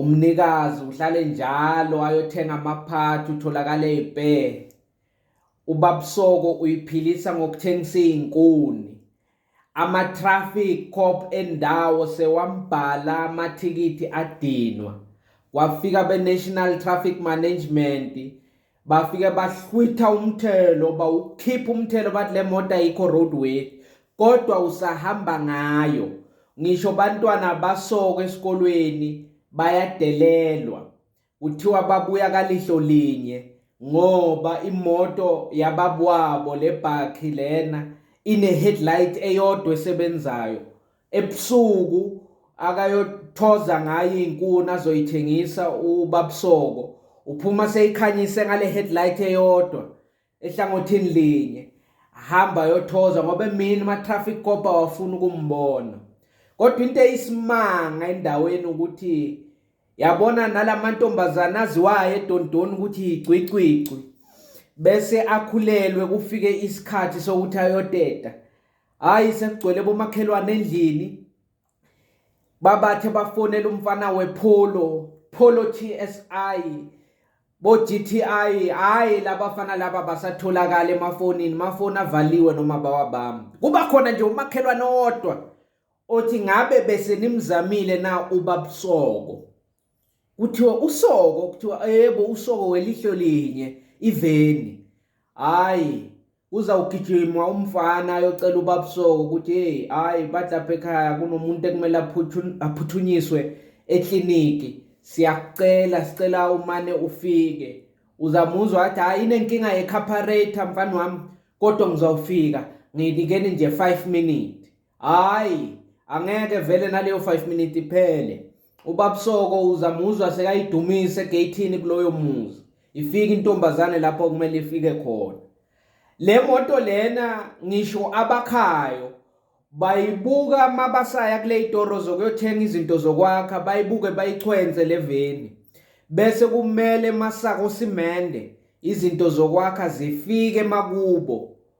Umnikazi uhlale njalo ayothenga amaphathi utholakale ibhe. Ubabsoko uyiphilisa ngokuthengisa izinkuni. Ama traffic cop endawo sewambhala amathikithi adinwa. Kwafika be National Traffic Management bafike bahlwitha umthelo bawukhipha umthelo bathi le moto ayikho road worthy kodwa usahamba ngayo ngisho bantwana basoko esikolweni bayadelelwa kuthiwa babuya kalihlo linye ngoba imoto yababwabo lebhakhi lena ine headlight eyodwa esebenzayo ebusuku akayothoza ngayo inkuni azoyithengisa ubabusoko uphuma seyikhanyise ngale headlight eyodwa ehlangothini linye hamba yothoza ngoba emini ma traffic cop awafuni ukumbona kodwa into eyisimanga endaweni ukuthi yabona nalamantombazana aziwayo edondoni ukuthi igcwicwicwi bese akhulelwe kufike isikhathi sokuthi ayoteta hayi sekugcwele bomakhelwane endlini babathe bafonela umfana wepholo pholo TSI bo GTI hayi labafana laba basatholakala emafonini mafoni avaliwe noma bawabamba kuba khona nje umakhelwane owodwa othi ngabe bese nimzamile na ubabusoko kuthiwa usoko kuthiwa yebo usoko welihlo linye iveni hayi uzawugijima umfana ayocela ubabusoko ukuthi hey hayi bathi lapha ekhaya kunomuntu ekumele aphuthunyiswe ekliniki siyakucela sicela umane ufike uzamuzwa athi hayi inenkinga yekhaphareytha mfana wami kodwa ngizawufika nginikeni nje 5 minute hayi angeke vele naleyo 5 minute iphele ubabsoko uzamuzwa sekayidumise egeyithini kuloyo muzi ifike intombazane lapho kumele ifike khona le moto lena ngisho abakhayo bayibuka mabasaya kule itoro zokuyothenga izinto zokwakha bayibuke bayichwenze le veni bese kumele masako simende izinto zokwakha zifike makubo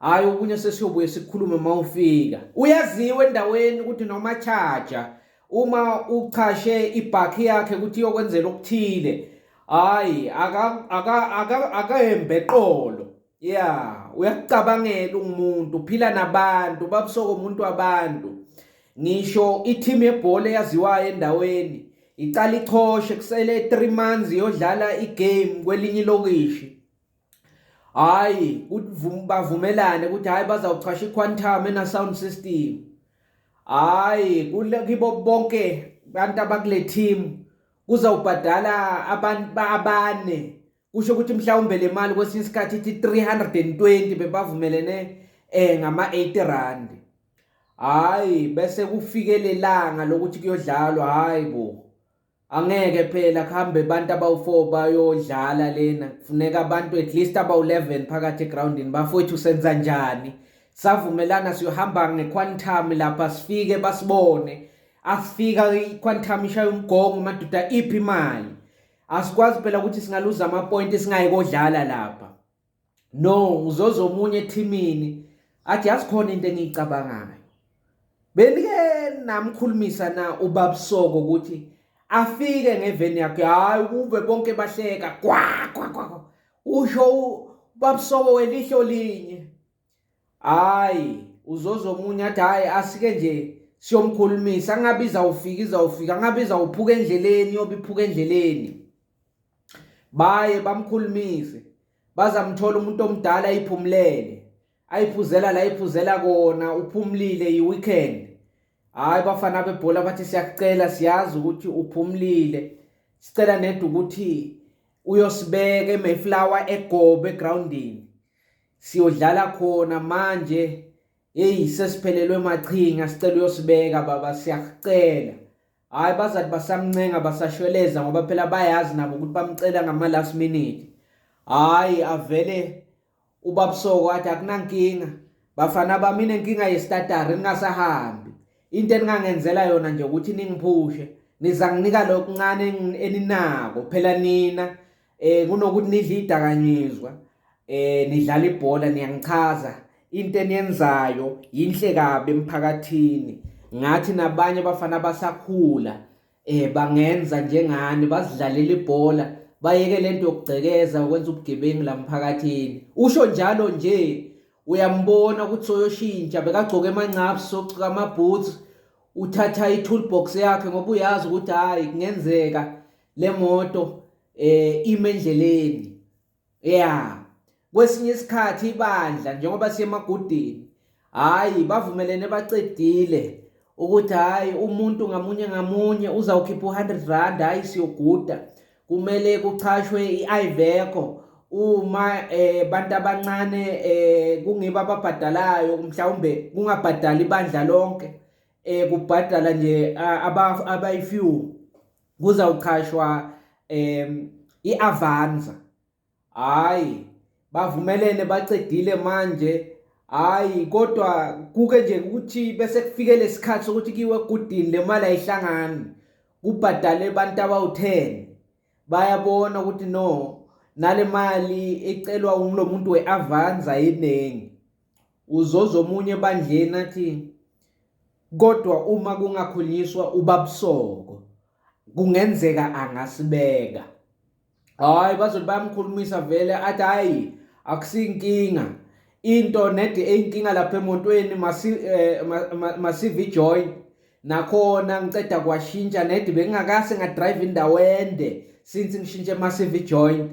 Hayi okunye sesiyobuye sikhulume uma ufika. Uyaziwa endaweni ukuthi noma charger uma uchashe ibhakhi yakhe ukuthi iyokwenzela okuthile. Hayi aka aka aka akahembe qolo. Yeah, uyakucabangela umuntu, uphila nabantu, babusoko umuntu wabantu. Ngisho i-team yebhola eyaziwayo endaweni iqala ichoshe kusele 3 months iyodlala i-game kwelinye ilokishi. hayi bavumelane ukuthi hayi bazawuchasha iquantum ena sound system hayi kule kibo bonke abantu abakule team kuzawubhadala abantu abane kusho ukuthi mhlawumbe le mali kwesinye isikhathi ithi 320 bebavumelene eh ngama 80 rand hayi bese kufikelelanga lokuthi kuyodlalwa hayi bo Angeke phela kuhambe abantu abawu-4 bayodlala lena kufuneka abantu at least abawu-11 phakathi egroundini bafowethu senza njani savumelana siyohamba ngequantum lapha sifike basibone asifika iquantum ishaya umgongo madoda iphi imali asikwazi phela ukuthi singaluza amapointi singayi kodlala lapha no uzoza omunye ethimini athi yazi khona into engiyicabangayo benike namkhulumisa na ubabusoko ukuthi afike ngeveni yakhe hayi ukuve bonke bahleka kwa kwa kwa usho ubabusoko welihlo linye hayi uzoza omunye athi hayi asike nje siyomkhulumisa angabe izawufika izawufika angabe izawuphuka endleleni yobe iphuka endleleni baye bamkhulumise bazamthola umuntu omdala ayiphumulele ayiphuzela la iphuzela kona uphumulile yi-weekend hhayi bafana bebhola bathi siyakucela siyazi ukuthi uphumulile sicela neda ukuthi uyosibeka emayflower egobe egroundini siyodlala khona manje heyi sesiphelelwe machinga sicela uyosibeka baba siyakucela hhayi bazathi basamncenga basashweleza ngoba phela bayazi nabo ukuthi bamcela ngama-last minute hhayi avele ubabusoko athi akunankinga bafana bami inenkinga yestatari ningasahambi into eningangenzela yona nje ukuthi ningiphushe niza nginika lokuncane eninako phela nina eh kunokuthi nidle idakanyizwa eh nidlala ibhola niyangichaza into eniyenzayo yinhle kabi emphakathini ngathi nabanye abafana abasakhula eh bangenza njengani bazidlalela ibhola bayeke lento yokugcekeza ukwenza ubugebengu la mphakathini usho njalo nje uyambona ukuthi soyoshintsha bekagcoka emancabu socuka amaboots uthatha i-toolbox yakhe ngoba uyazi ukuthi hhayi kungenzeka le moto eh ime endleleni yeah kwesinye isikhathi ibandla njengoba siyemagudini hayi bavumelene bacedile ukuthi hayi umuntu ngamunye ngamunye uzawukhipha u100 rand hayi siyoguda kumele kuchashwe iIveco uma eh bantu abancane eh kungiba ababhadalayo mhlawumbe kungabhadali ibandla lonke eh kubhadala nje abayi few kuzawuqhashwa um i-avanza hhayi bavumelene bacedile manje hhayi kodwa kuke nje ukuthi bese kufike lesikhathi sokuthi kiwe egudini le mali ayihlangani kubhadale abantu abawu-ten bayabona ukuthi no nale mali ecelwa umlo muntu we-avanza yeningi Uzozo omunye ebandleni athi kodwa uma kungakhulunyiswa ubabusoko kungenzeka angasibeka hayi bazothi bayamkhulumisa vele athi hayi akusinkinga into nedi eyinkinga lapha emotweni eh, masive ijoy nakhona ngiceda kwashintsha nedi bengingakase ngadrive indawo ende since ngishintshe masive ijoint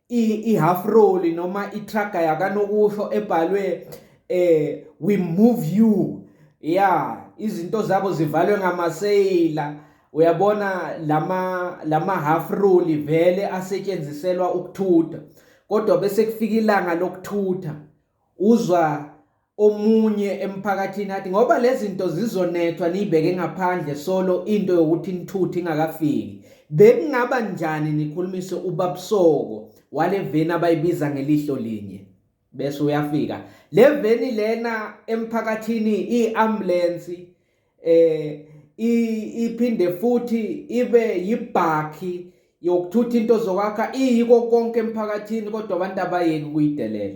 i-half roll noma itraga yakanokusho ebhalwe eh we move you ya izinto zabo zivalwe ngamaseyila uyabona lama lama half roll vele asetshenziselwa ukuthutha kodwa bese kufika ilanga lokuthutha uzwa omunye emphakathini athi ngoba lezi zinto zizonethwa niyibeke ngaphandle solo into yokuthi nithuthe ingakafiki bekungaba njani nikhulumise ubabusoko wale veni abayibiza ngelihlo linye bese uyafika le veni lena emphakathini i-ambulensi eh iphinde futhi ibe yibhakhi yokuthutha into zokwakha iyiko konke emphakathini kodwa abantu abayeki kuyidelela